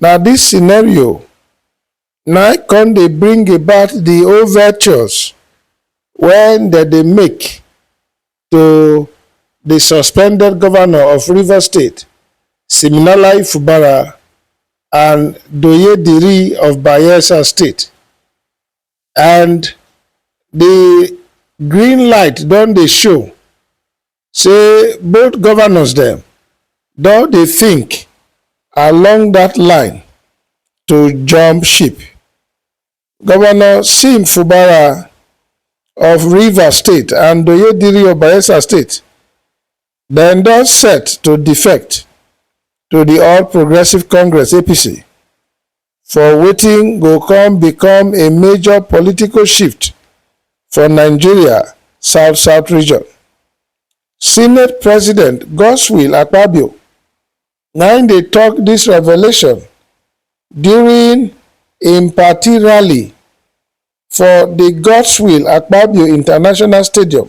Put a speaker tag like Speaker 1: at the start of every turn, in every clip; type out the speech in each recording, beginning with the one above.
Speaker 1: Na dis scenario na im come dey bring about di overtures wey dem dey make to di suspended govnor of Rivers State, Siminalayi Fubara and Doye Diri of Bayelsa State and di green light don dey show say both governors dem don dey think along that line to jump ship. Governor Sim Fubara of Rivers State and Oyediri of Bayelsa State dem don set to defect to the All Progressives Congress (APC) for wetin go come become a major political shift for Nigeria south-south region. Senate President Godswill Akpabio na im dey talk this revelation during im party rally for the Godswill Akpabio International Stadium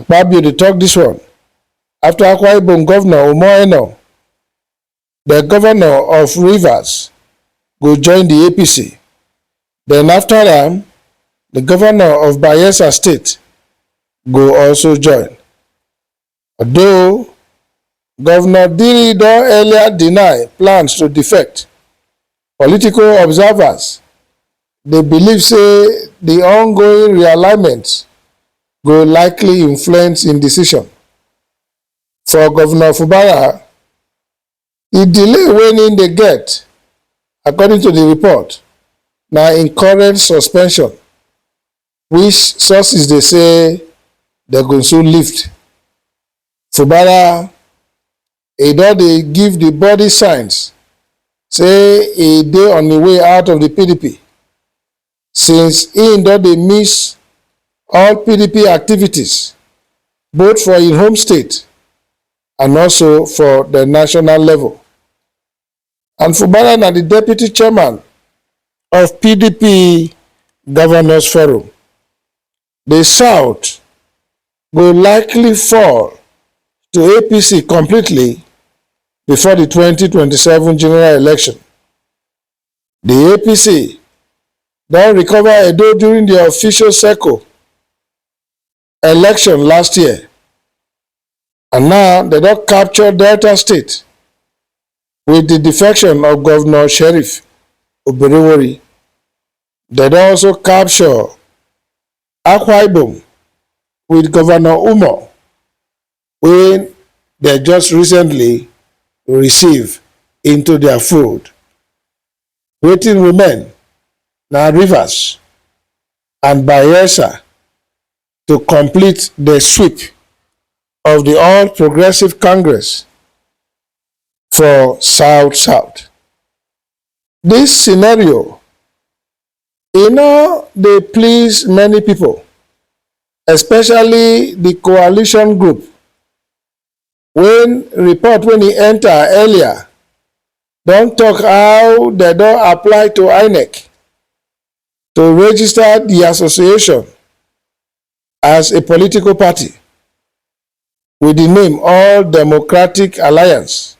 Speaker 1: Akpabio dey talk this one after Akwa Ibom Governor Omo Eno, the Governor of Rivers, go join the APC. Then after am, the Governor of Bayelsa State go also join. Although Governor Diri don earlier deny plans to defect, Political observers dey believe say di ongoing realignment go likely influence im decision. For Govnor Fubara, di delay wen im dey get, according to di report, na im current suspension, which sources dey say dem go soon lift. Fubara E don dey give di body signs say e dey on im way out of di pdp since im don dey miss all pdp activities both for im home state and also for di national level. And Fubara na di deputy chairman of pdp governors forum di south go likely fall to apc completely before di 2027 general election di apc don recover edo during di official circle election last year and now dem don capture delta state wit di defection of govnor sheriff oberewori Dem don also capture Akwa Ibom with Governor Umo wey dem just recently receive into their fold. Wetin remain na Rivers and Bayelsa to complete the sweep of the All Progressive Congress for South South. Dis scenario e no dey please many pipo, especially di coalition group wen report wen e enta earlier don tok how dem don apply to inec to register di association as a political party with the name All Democratic Alliance,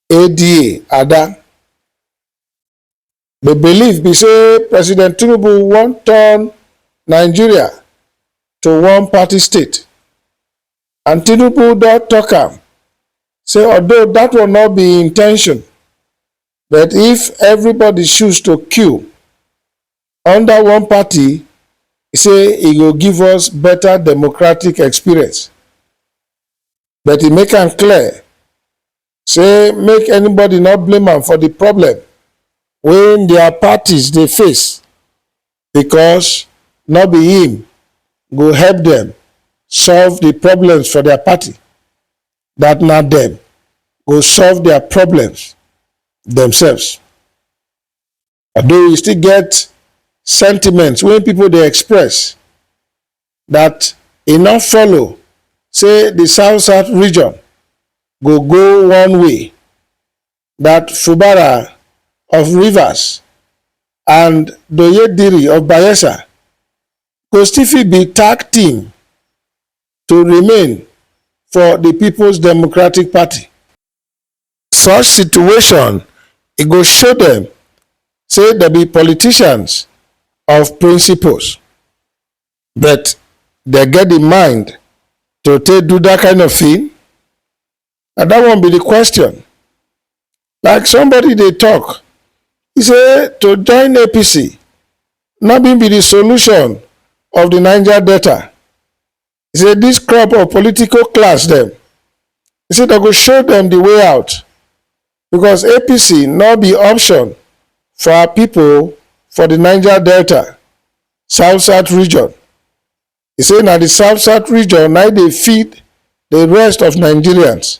Speaker 1: ADA, ADA, the belief be say President Tinubu wan turn Nigeria to one party state. And Tinubu don talk am say although that will not be intention, but if everybody choose to queue Under one party say e go give us better democratic experience, but e make am clear say make anybody no blame am for di problem wey dia parties dey face because no be im go help dem solve di problems for dia party, dat na dem go solve dia problems demselves. Although e still get sentiments wey pipo dey express dat e no follow say di south-south region go go one way, dat Fubara of Rivers and Doyediri of Bayelsa go still fit be tag team to remain for di Peoples Democratic Party. such situation e go show dem say dem be politicians of principles but dem get the mind to take do that kind of thing na that one be the question like somebody dey talk he say to join apc no be be the solution of the niger delta He say this crop of political class dem, he say dem go show dem the way out because APC no be option for our people for the Niger Delta, South-South region. He say na the South-South region na dey feed the rest of Nigerians.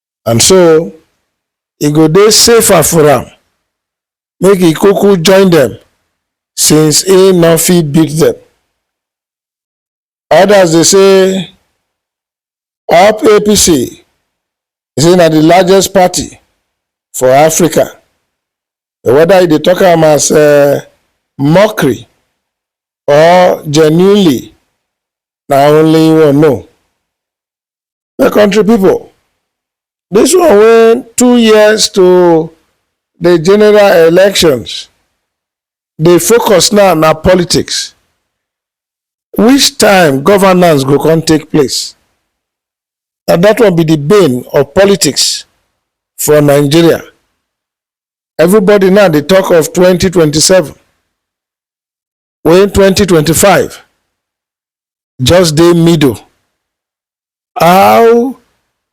Speaker 1: and so e go dey safer for am make e kuku join dem since e no fit beat dem. Others dey say up APC say na the largest party for Africa but whether you dey talk am as um mockery or genuinely na only you know. My country people, this one wey two years to the general elections dey focus now na politics. Which time governance go come take place? Na that one be the bane of politics for Nigeria. Everybody now dey talk of 2027. wey 2025 just dey middle how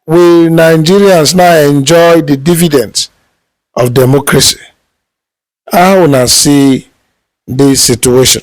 Speaker 1: will nigerians now enjoy the dividends of democracy how una see dis situation